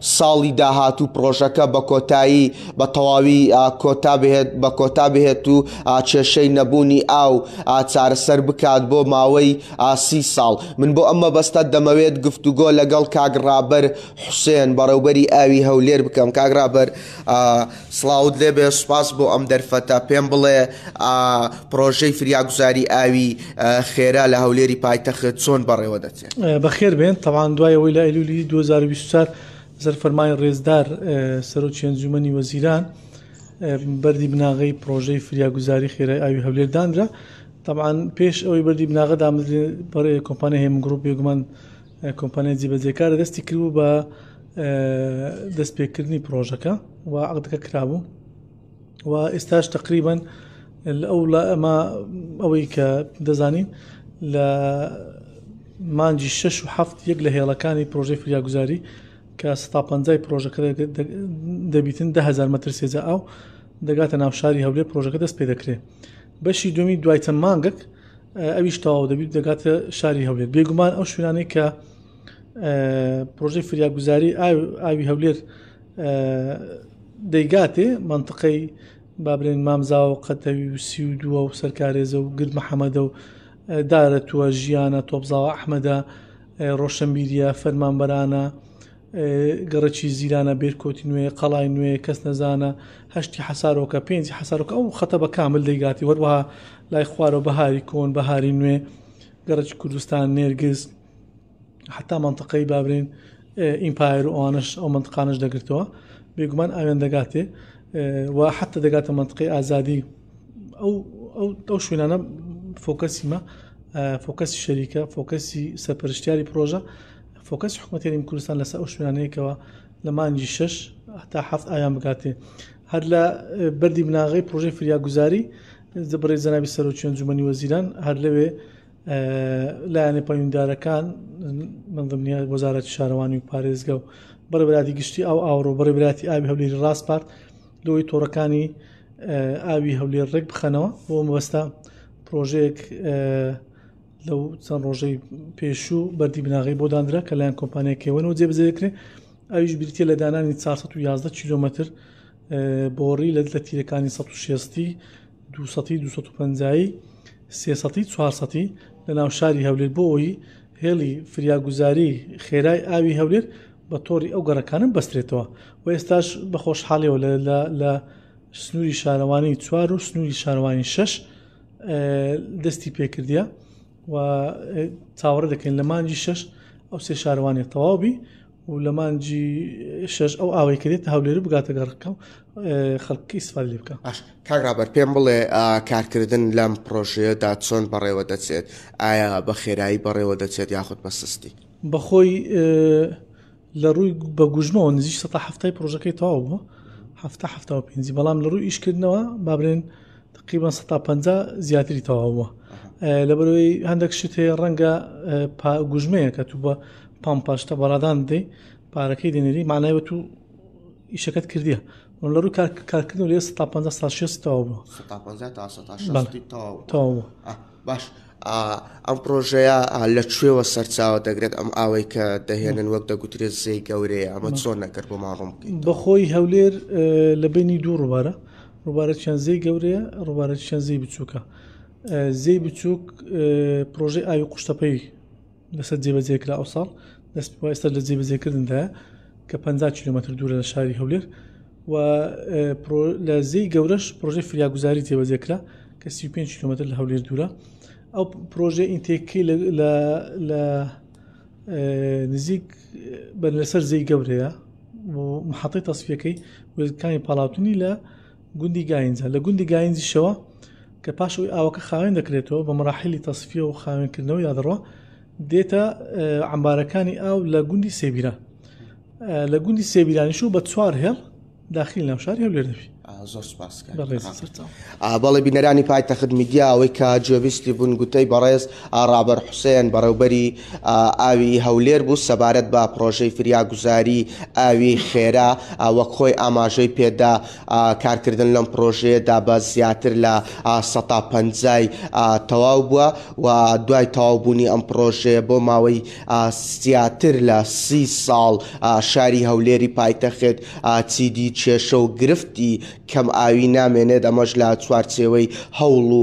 ساڵی داهاتوو پڕۆژەکە بە کۆتایی بە تەواوی کۆتا بهێت بە کۆتا بهێت و کێشەی نەبوونی ئاو چارەسەر بکات بۆ ماوەی سی ساڵ من بۆ ئەم مەبەستە دەمەوێت گفتوگۆ لەگەڵ کاک ڕابەر حوسێن بەڕێوبەری ئاوی هەولێر بکەم کاک ڕابەر سڵاوت لێبێ سوپاس بۆ ئەم دەرفەتە پێم بڵێ پڕۆژەی فریاگوزاری ئاوی خێرا لە هەولێری پایتەخت چۆن بەڕێوە دەچێت. بەخێر بێن تەبعان دوای ئەوەی لە ئەیلولی دوو هەزار و بیست و چوار زەر فەرمانی ڕێزدار سەرۆکی ئەنجومەنی وەزیران بەردی بناغەی پرۆژەی فریاگوزاری خێرای ئاوی هەولێر دانرا تەبعان پێش ئەوەی بەردی بناغە دامزرێ بەڕێ کۆمپانیا هێمن گروپ بێگومان کۆمپانیا جیبەجێکارە دەستی کردبوو بە دەستپێکردنی پرۆژەکە و عقدەکە کرابوو و ئێستاش تەقریبەن ئەو ئەمە ئەوەی کە دەزانین لە مانجی شش و هەفت یەک لە هێڵەکانی پرۆژەی فریاگوزاری کە ستا پەنجای پرۆژەکە دەبیتن دههزار مەتر سێجا ئاو دەگاتە ناوشاری هەولێ پرۆژەکە دەست پێ دەکرێت بەشی دومی دوای چەند مانگەک ئەویش تەواو دەبیت دەگاتە شاری هەولێر بێگومان ئەو شوێنانەی کە پرۆژەی فریاگوزاری ئاوی هەولێر دەیگاتێ مەنتقەی بابرێن مامزاوە و قەتەوی و سی و دووە و سەرکارێزە و گرد محەممەدە و دارەتووە ژیانە تۆپزاوە ئەحمەدە ڕۆشنبیریە فەرمانبەرانە گەڕەکی زیرانە بێرکۆتی نوێ قەڵای نوێ کەس نەزانە هەشتی حەسارۆکە پێنجی حەسارۆکە ئەو خەتە بە کامل دەیگاتی وەروەها لای خوارەوە بەهاری کۆن بەهاری نوێ گەڕەکی کوردستان نێرگز حەتا مەنتقەی با بلێین ئیمپایەر و ئەوانەش ئەو مەنتقانەش دەگرتەوە بێگومان ئاوێن دەگاتێ و حەتا دەگاتە مەنتقی ئازادی ئەو ئەو شوێنانە فۆکەسیمە فۆکەسی شەریکە فۆکەسی سەرپەرشتیاری پرۆژە فۆکەس حکوومەتێری کوردستان لەسەر ئەو شوێنانەیەکەوە لە مانجی شش هەتا هەفت ئایان بگاتێ هەر لە بەری بناغی پرۆژەی فریاگوزاری بڕێ زەناوی سەرۆکیان جومەنی وەزیران هەر لەوێ لایەنە پەیوەندیدارەکان من دڵنیای وەزارەتی شارەوانی و پارێزگە و بەڕێبراتی گشتی ئەو ئاوڕۆ بەڕێبراتی ئاوی هەولێری ڕاستپارت لەوەی تۆڕەکانی ئاوی هەولێر ڕێک بخەنەوە بۆ مەبەستا پرۆژەیەک لەو چەند ڕۆژەی پێشوو بەردی بناغی بۆ دانرا کە لایەن کۆمپانیەکەوەەوە جێبزێکرێ ئەویش بریتە لە دانانی 411 کیلومتر بۆڕی لە لە تیرەکانی 1660 دوو سەتی دوو سەد و پەنجایی سێ سەتی چوار سەتی لە ناو شاری هەولێر بۆ ئەوی هێڵی فریاگوزاری خێرای ئاوی هەولێر بە تۆڕی ئەو گەڕەکانم بەسترێتەوە و ئێستاش بە خۆشحاڵیەوە لە سنووری شارەوانی چوار و سنووری شارەوانی شش دەستی پێکردە و چاوەڕە دەکەین لە مانجی شش ئەو سێ شارەوانی تەواوبی و لە مانگی شەش ئەو ئاوەی کە دێتە هەولێر و بگاتە گەڕەکە و خەڵکی ئیسفادە لێ بکا. باش کاک ڕابەر پێم بڵێ ئا، کارکردن لەم پڕۆژەیەدا چۆن بەڕێوە دەچێت؟ ئایا بە خێرایی بەڕێوە دەچێت یاخود بە سستی؟ بە خۆی ئێ، لە ڕووی بە گوژمەوە نزیک سەتا حەفتای پڕۆژەکەی تەواو بووە، حەفتا حەفتا و پێنجی، بەڵام لە ڕووی ئیشکردنەوە با برێن تقیبە سە تا پ زیاتری تەواوە لەبەرەوەی هەندێک شت هەیە ڕەنگە گوژمەیە کە تو بە پام پاشتە بەڕادان دەی پارەکەی دێنێری مانایوە تو ئیشەکەت کردیە من لە ڕوو کارکردن لێ سە تا پ تا شێ تەواو بووە تەواو باش ئەم پرۆژەیە لە کوێوە سەرچاوە دەگرێت ئەم ئاوەی کە دەهێنن وەک دەگوترێت زێی گەورەیە ئەمە چۆن نەکرد بۆ ماڕۆم بەخۆی هەولێر لە بینی دوو ڕووبارە ڕووبارە چەند زێی گەورەیە ڕووبارە چەند زێی بچووکە زێی بچووک پرۆژەی ئاوی قوشتەپەی لەسەر جێبەجێکرا ئەو ساڵ دەست پێ ئێستا لە جێبەجێکردندا کە 50 کیلومتر دوورە لە شاری هەولێر و لە زی گەورەش پرۆژەی فریاگوزاری جێبەجێکرا کە 35 کیلومتر لە هەولێر دوورە ئەو پرۆژە ئینتێکی لە نزیک بەر لەسەر زەی گەورەیە محەتی تەسفەکەی وێزەکانی پاڵاوتنی لە گوندی گاینجە لە گوندی گاینجیشەوە کە پاش ئەوی ئاوەکە خاوێن دەکرێتەوە بە مراحلی تەسفیە و خاوێنکردنەوە یادڕۆ دێتە ئەمبارەکانی ئاو لە گوندی سێبیران لە گوندی سێبیرانیش و بە چوار هێڵ داخل ناوشار هەولێر دەبی زۆر بەڵێ بینەرانی پایتەخت میدیاەوەی کە جێویستی بوون گوتەی بەڕێز ئاڕابەر حوسێن بەڕێوبەری ئاوی هەولێر بوو، سەبارەت بە پڕۆژەی فریاگوزاری ئاوی خێرا وەک خۆی ئاماژەی پێدا، کارکردن لەم پڕۆژەیەدا بە زیاتر لە سەتا پەنجای تەواو بووە و دوای تەواو بوونی ئەم پڕۆژەیە بۆ ماوەی زیاتر لە سی ساڵ شاری هەولێری پایتەخت چیدی کێشە و گرفتی کەم ئاوی نامێنێت ئەمەش لە چوارچێوەی هەوڵ و